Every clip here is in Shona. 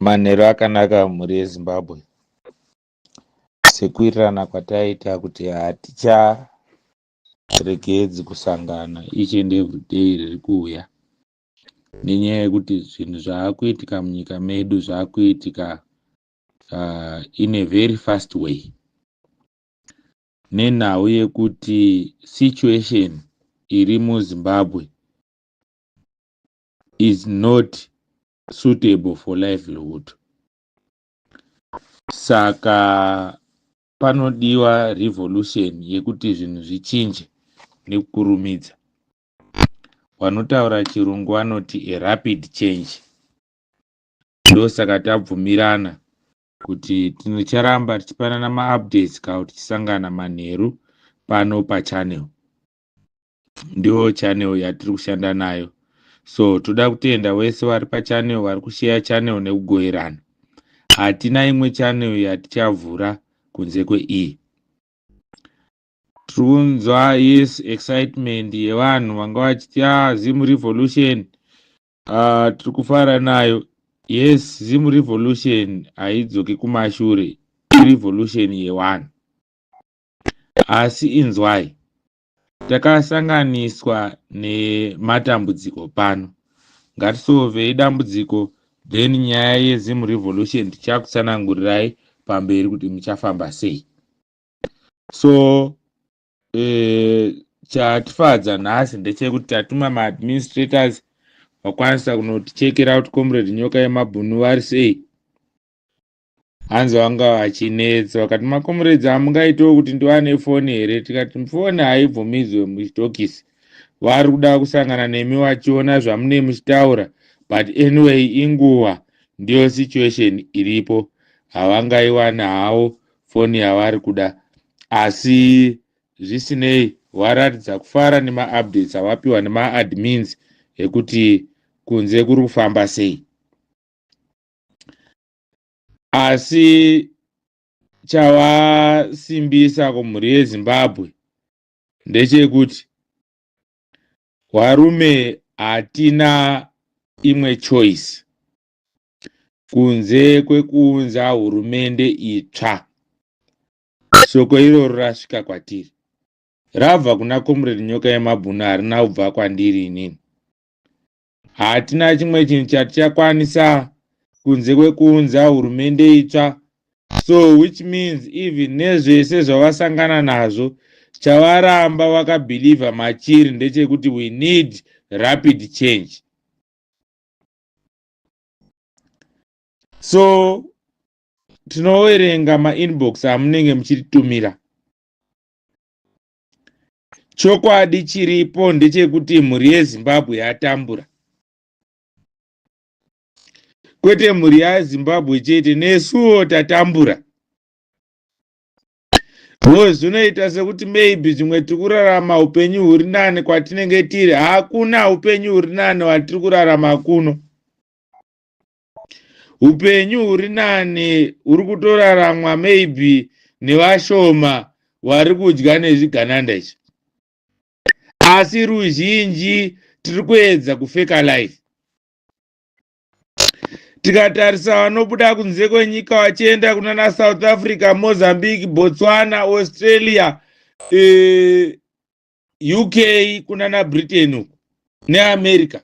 Manheru akanaka mhuri yeZimbabwe. Sekuwirirana kwataita kuti haticharegedzi kusangana each and every day riri kuuya nenyaya yekuti zvinhu zvaakuitika munyika medu zvaakuitika uh, in a very fast way nenhau yekuti situation iri muZimbabwe is not suitable for livelihood saka panodiwa revolution yekuti zvinhu zvichinje nekukurumidza vanotaura chirungu vanoti a rapid change ndosaka tabvumirana kuti tinocharamba tichipanana maupdates ka kuti tisangana manheru pano pachannel ndiwo channel yatiri kushanda nayo so toda kutenda wese vari pachannel vari kusheya channel nekugoverana hatina imwe channel yatichavhura kunze kweiyi tiri kunzwa yes excitement yevanhu vanga vachiti a ah, zim revolution uh, tiri kufara nayo yes zim revolution haidzoki kumashure irevolution yewanhu asi inzwai Takasanganiswa nematambudziko pano. Ngatisovei dambudziko then nyaya yeZim Revolution tichakutsanangurirai pamberi kuti muchafamba sei. So eh, chatifadza nhasi ndechekuti tatuma maadministrators vakwanisa kunotichekera kuti comrade nyoka yemabhunu vari sei hanzi vanga vachinetsa vakati makomuredzi hamungaitewo kuti ndiwane foni here tikati foni haibvumidzwe muchitokisi vari kuda kusangana nemi vachiona zvamune muchitaura but anyway inguva ndiyo situation iripo havangaiwana hawo foni yavari kuda asi zvisinei waratidza kufara nemaupdates awapiwa nemaadmins ekuti kunze kuri kufamba sei asi chavasimbisa kumhuri yezimbabwe ndechekuti varume hatina imwe choice kunze kwekuunza hurumende itsva shoko iroro rasvika kwatiri rabva kuna comrade nyoka yemabhunu harina kubva kwandiri inini Hatina chimwe chinhu chatichakwanisa kunze kwekuunza hurumende itsva so which means even nezvese zvavasangana nazvo chavaramba vakabhilivha machiri ndechekuti we need rapid change so tinoverenga mainbox amunenge muchititumira chokwadi chiripo ndechekuti mhuri yezimbabwe yatambura kwete mhuri yazimbabwe chete nesuwo tatambura bcause zvinoita sekuti maybe zvimwe tiri kurarama upenyu huri nani kwatinenge tiri hakuna upenyu huri nani watiri kurarama kuno upenyu huri nani huri kutoraramwa maybe nevashoma vari kudya nezvigananda izvi asi ruzhinji tiri kuedza kufeka life tikatarisa vanobuda kunze kwenyika vachienda kunana south africa mozambique botswana australia e, uk kunana britain uku neamerica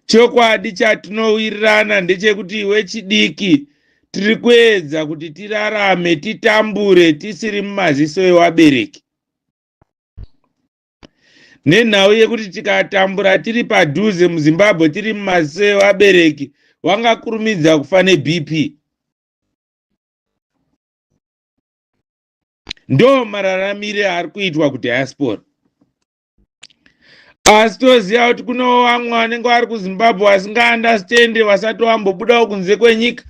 chokwadi chatinowirirana ndechekuti iwe chidiki tiri kuedza kuti tirarame titambure tisiri mumaziso ewabereki nenhau yekuti tikatambura tiri padhuze muzimbabwe tiri mumaziso ewabereki wangakurumidza kufa nebp ndo mararamire ari kuitwa kudiaspora asi toziva kuti kunewo vamwe vanenge vari kuzimbabwe vasingaandastende vasati vambobudawo kunze kwenyika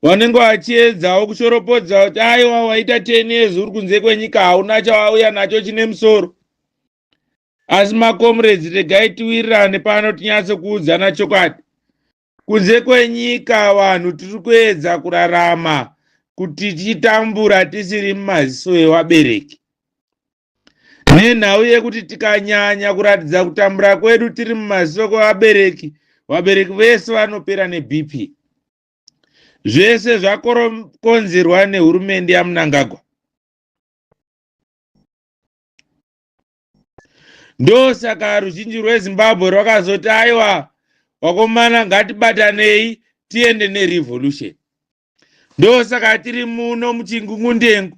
vanenge vachiedzawo kushoropodza kuti aiwa waita ten years uri kunze kwenyika hauna chawauya nacho chine musoro asi makomrades regai tiwirirane pano tinyatso kuudzana chokwadi kunze kwenyika vanhu tiri kuedza kurarama kuti tichitambura tisiri mumaziso evabereki nenhau yekuti tikanyanya kuratidza kutambura kwedu tiri mumasoko abereki vabereki vese vanopera nebp zvese zvakorokonzerwa nehurumende yamunangagwa ndosaka ruzhinji rwezimbabwe rwakazoti aiwa wakomana ngatibatanei tiende nerevolution ndosaka tiri muno muchingungundengu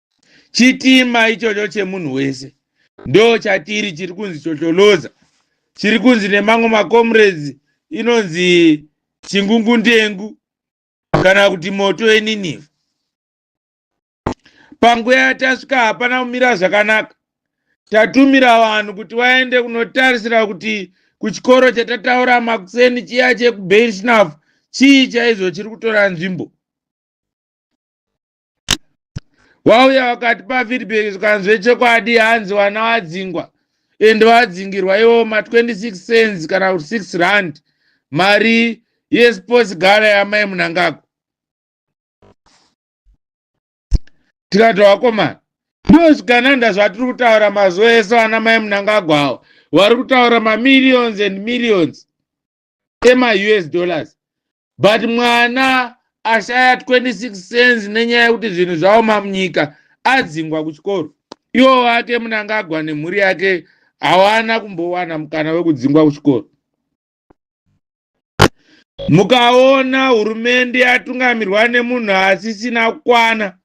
chitima ichocho chemunhu wese ndo chatiri chiri kunzi chocholoza chiri kunzi nemamwe macomrades inonzi chingungundengu kana kuti moto yeniniva panguva yatasvika hapana kumira zvakanaka tatumira vanhu kuti vaende kunotarisira kuti kuchikoro chatataura makuseni chiya chekubeirshnafu chii chaizvo chiri kutora nzvimbo wauya wakati pafeedback zvikanzwe chekwadi hanzi wana wadzingwa and wadzingirwa iwo ma 26 cents kana kuti 6 rand mari yesports gara yamai munangako tikati wakomana ndiwo zvigananda zvatiri kutaura mazuva ese vana mai munangagwa awo vari kutaura mamillions and millions ema us dollars but mwana ashaya 26 cents nenyaya yekuti zvinhu zvaoma munyika adzingwa kuchikoro iwo wake munangagwa nemhuri yake hawana kumbowana mukana wekudzingwa kuchikoro mukaona hurumende yatungamirwa nemunhu asisina kukwana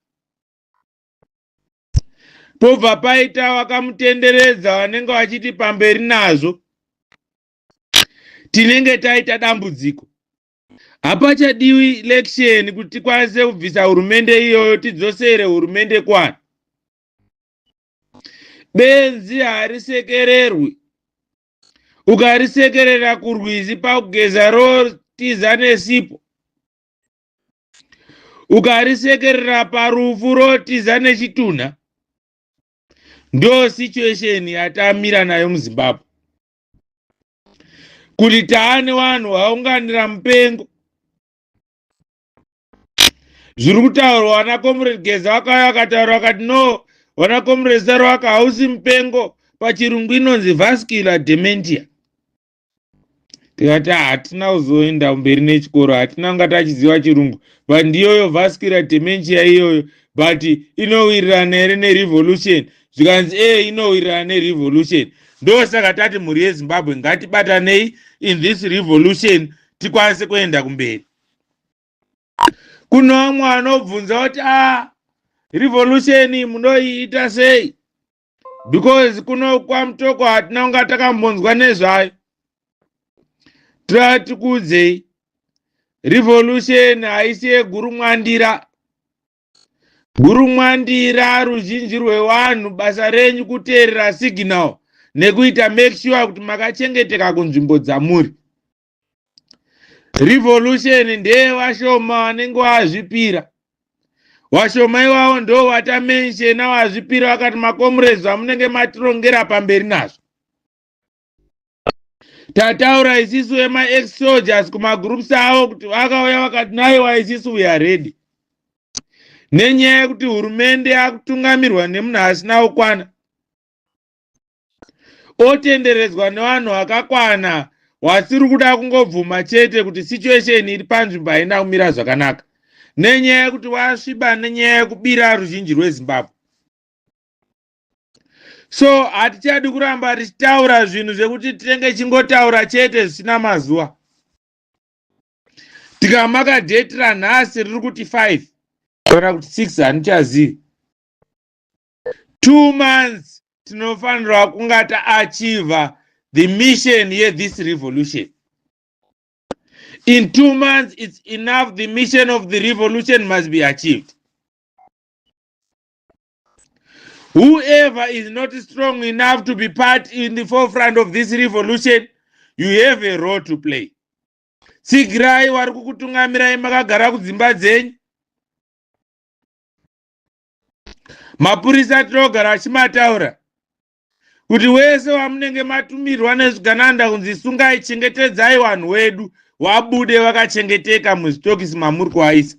pobva paita wakamutenderedza vanenge vachiti pamberi nazvo tinenge taita dambudziko hapachadiwi election kuti tikwanise kubvisa hurumende iyoyo tidzosere hurumende kwani benzi harisekererwi ukarisekerera kurwizi pakugeza rotiza nesipo ukarisekerera parufu rotiza nechitunha ndo situation yatamira nayo muzimbabwe kuti taane vanhu vaunganira mupengo zviri kutaurwa vana comrade geza vakauya vakataura vakati no vana comrade saro vaka hausi mupengo pachirungu inonzi vascular dementia tikati ah, hatina kuzoenda mberi nechikoro hatina kunga tachiziva chirungu but ndiyoyo vascular dementia iyoyo but inowirirana here nerevolution zvikanzi e inowirirana nerevolution ndosaka tati mhuri yezimbabwe ngatibatanei in this revolution tikwanise kuenda kumberi kuno vamwe vanobvunza kuti a ah, revolution munoiita sei because kuno kwamutoko hatina kunga takambonzwa nezvayo tatiudzei revolution haisi yeguru mwandira Guru Mwandira, ruzhinji rwevanhu basa renyu kuteerera signal nekuita make sure kuti makachengeteka kunzvimbo dzamuri. Revolution ndeye vashoma vanenge vazvipira. Vashoma iwawo ndo vatamenshena vazvipira vakati makomurezi amunenge matirongera pamberi nazvo. tataura isisu vemaex soldiers kumagroups avo kuti vakauya vakati naiwa isisu we are ready nenyaya yekuti hurumende yakutungamirwa nemunhu asina kukwana otenderedzwa nevanhu vakakwana wasiri kuda kungobvuma chete kuti situation iri panzvimbo haina kumira zvakanaka nenyaya yekuti wasviba nenyaya yekubira ruzhinji rwezimbabwe so hatichadi kuramba tichitaura zvinhu zvekuti tinenge chingotaura chete zvisina mazuva tikamaka dheti ranhasi riri kuti five kana kuti six handichazivi two months tinofanirwa kunga taachiva the mission yethis revolution in two months it's enough the mission of the revolution must be achieved Whoever is not strong enough to be part in the forefront of this revolution, you have a role to play. Tsigirai wari kukutungamirai makagara kudzimba dzenyu. Mapurisa tinogara achimataura kuti wese wamunenge matumirwa nezvigananda kunzi sungai chengetedzai vanhu wedu wabude vakachengeteka muzvitokisi mamuri kuaisa.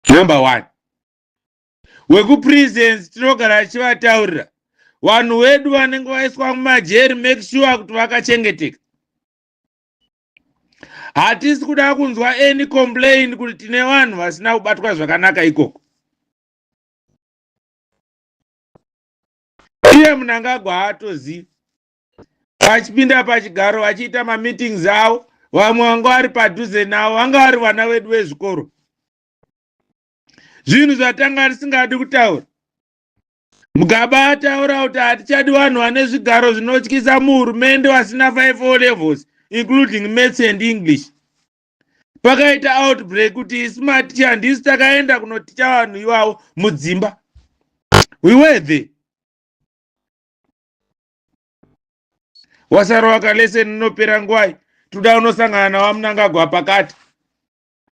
Number one. wekuprisons tinogara tichivataurira vanhu wedu vanenge vaiswa mumajeri make sure kuti vakachengeteka hatisi kuda kunzwa any complain kuti tine vanhu vasina kubatwa zvakanaka ikoko iye munangagwa haatozivi vachipinda pachigaro vachiita mameetings avo vamwe vanga vari padhuze navo vanga vari vana vedu vezvikoro zvinhu zvatanga risingadi kutaura mugaba ataura kuti hatichadi vanhu vane zvigaro zvinotyisa muhurumende vasina 5 o levels including maths and english pakaita outbreak kuti isu matichi handisi takaenda kunoticha vanhu ivavo mudzimba we were there wasarova kaleseni inopera ngwai toda unosangana nawamunangagwa pakati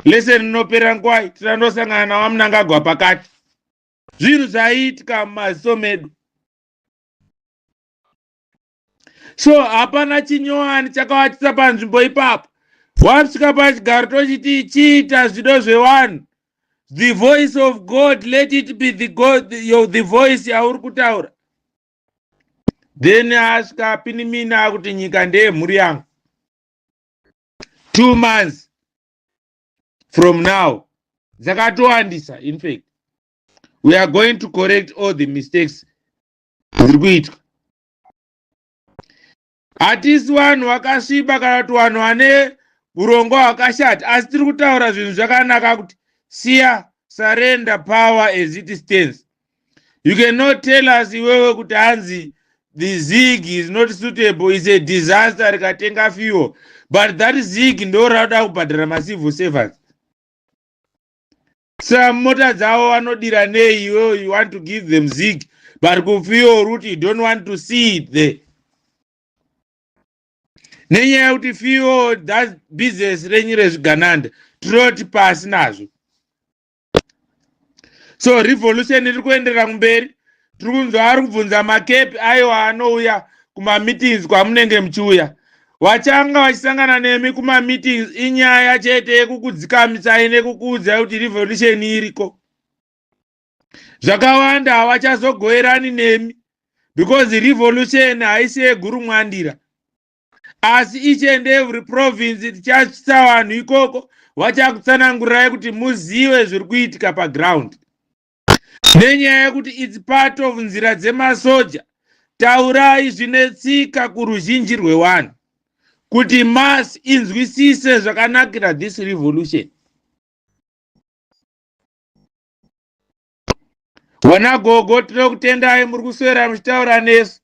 lesson inopera ngwai tirandosangana nawamunangagwa pakati zvinhu zvaiitika mumaziso medu so hapana chinyowani chakawatisa panzvimbo ipapo wasvika pachigaro tochiti chiita zvido zvevanhu the voice of god let it be the, god, yo, the voice yauri kutaura then asvika apinimina akuti nyika ndeyemhuri yangu two months from now dzakatowandisa infact we are going to correct all the mistakes dziri kuitwa hatisi vanhu vakasviba kana kuti vanhu vane urongo hwakashata asi tiri kutaura zvinhu zvakanaka kuti siya surrender power as it stands you cannot tell us iwewe kuti hanzi the zig is not suitable is a disaster rikatenga fuel but that zig ndo rakuda kubhadhara macivil servants sa mota dzavo vanodira nei iwewe you want to give them zig but kufuel route you don't want to see it there nenyaya yekuti fuel that business renyu rezvigananda tinoti pasi nazvo so revolution iri kuenderera kumberi tiri kunzwa ari kubvunza makepi aiwa anouya kumameetings kwamunenge muchiuya vachanga vachisangana nemi kumameetings inyaya chete yekukudzikamisai nekukuudzai kuti revolution iriko zvakawanda havachazogoerani nemi because revolution haisi yeguru mwandira asi each and every province tichaisa vanhu ikoko vachakutsanangurirai kuti muzive zviri kuitika paground nenyaya yekuti its part of nzira dzemasoja taurai zvine tsika kuruzhinji rwevanhu kuti mas inzwisise zvakanakira this revolution vana gogo tinokutendai muri kuswera muchitaura nesu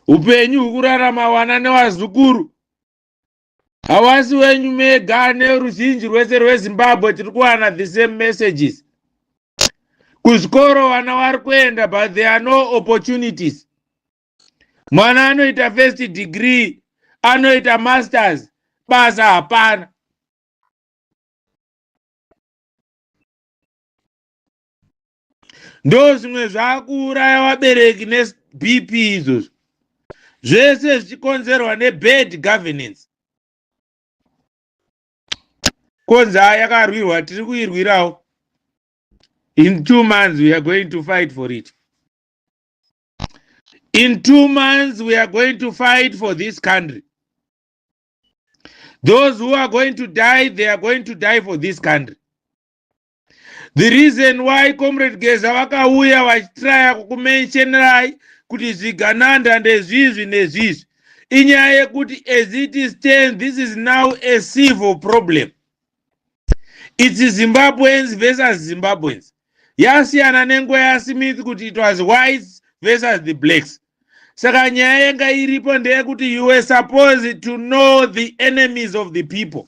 upenyu hwekurarama wana nevazukuru hawasi wenyu mega neruzhinji rwese rwezimbabwe tiri kuwana the same messages kuzvikoro vana vari kuenda but there are no opportunities mwana anoita first degree anoita masters basa hapana ndozvimwe zvakuuraya vabereki nebp izvozvo zvese zvichikonzerwa nebad governance konza yakarwirwa tiri kuirwirawo in two months we are going to fight for it in two months we are going to fight for this country those who are going to die they are going to die for this country the reason why comrade geza vakauya vachitraya kukumentionerai kuti zvigananda ndezvizvi nezvizvi inyaya yekuti as it is stand this is now a civil problem its zimbabweans versus zimbabweans yasiyana nenguva yasmith kuti it was whites versus the blacks saka nyaya yanga iripo ndeyekuti you were supposed to know the enemies of the people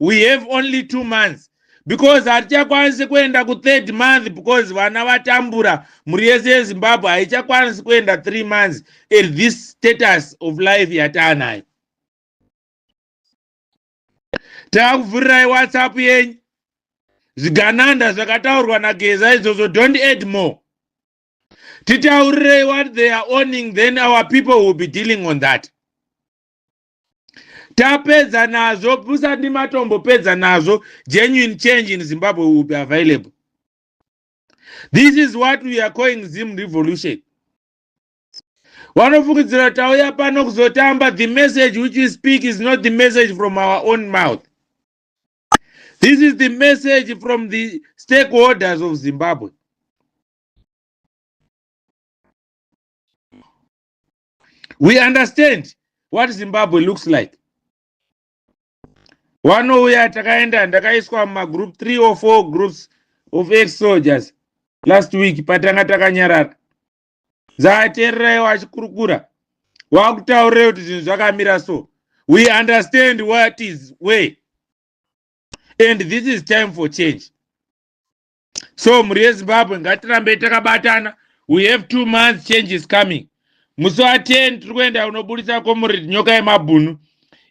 we have only two months because hatichakwanisi kuenda kuthird month because vana vatambura mhuri yese yezimbabwe haichakwanisi kuenda three months at this status of life yataanayo takuvhurirai whatsapp yenyu zvigananda zvakataurwa nageza izvozvo don't add more titaurirei what they are owning then our people will be dealing on that tapedza nazvo pusandi matombo pedza nazvo genuine change in zimbabwe will be available this is what we are calling zim revolution wanofungidzira tauya pano kuzotamba the message which we speak is not the message from our own mouth this is the message from the stakeholders of zimbabwe we understand what zimbabwe looks like wanouya takaenda ndakaiswa mumagroup three or four groups of ex soldiers last week patanga takanyarara dzaateererayo achikurukura wakutaurira kuti zvinhu zvakamira so we understand what is way and this is time for change so mhuri yezimbabwe ngatirambei takabatana we have two months change is coming musi wa 10 tiri kuenda unoburitsa comrade nyoka yemabhunu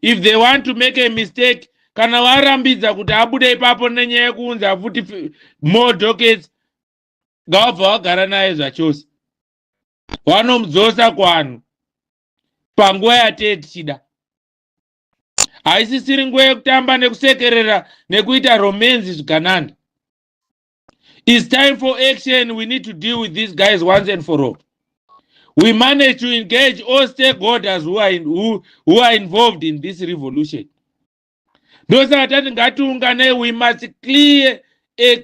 if they want to make a mistake kana varambidza kuti abude ipapo nenyaya yekuunza futi fi- more dockets ngavabva vagara naye zvachose vanomudzosa kuvanhu panguva yatee tichida haisisiri nguva yekutamba nekusekerera nekuita romenzi zvigananda its time for action we need to deal with these guys once and for all we manage to engage all stakeholders who are, in, who, who are involved in this revolution ndosaka tati ngatiunganei we must clear a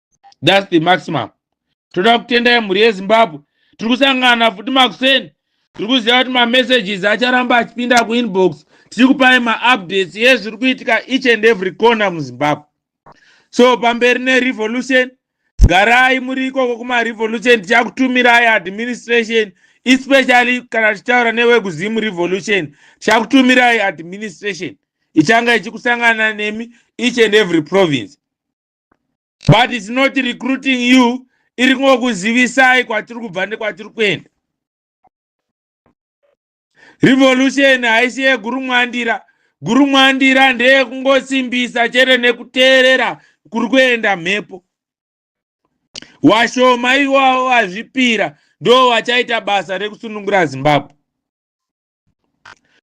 thats the maximum toda kutendai mhuri yezimbabwe tiri kusangana futi makuseni tiri kuziva kuti mamessages acharamba achipinda kuinbox tiri kupai maupdates yezviri kuitika each and every corner muzimbabwe so pamberi nerevolution garai muri ikoko kumarevolution tichakutumirai administration especially kana tichitaura newekuzimu revolution tichakutumirai administration ichanga ichikusangana nemi each and every province but its not recruiting you iri kungokuzivisai kwatiri kubva nekwatiri kuenda revolution haisi yegurumwandira gurumwandira ndeyekungosimbisa chete nekuteerera kuri kuenda mhepo washoma iwavo vazvipira ndo vachaita basa rekusunungura zimbabwe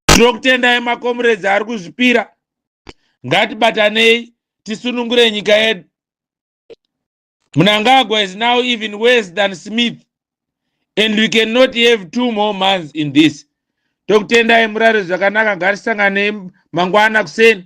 tinokutendai makomuredzi ari kuzvipira ngatibatanei tisunungure nyika yedu munangagwa is now even worse than smith and we cannot have two more months in this tokutendai murare zvakanaka ngatisanganei mangwana kuseni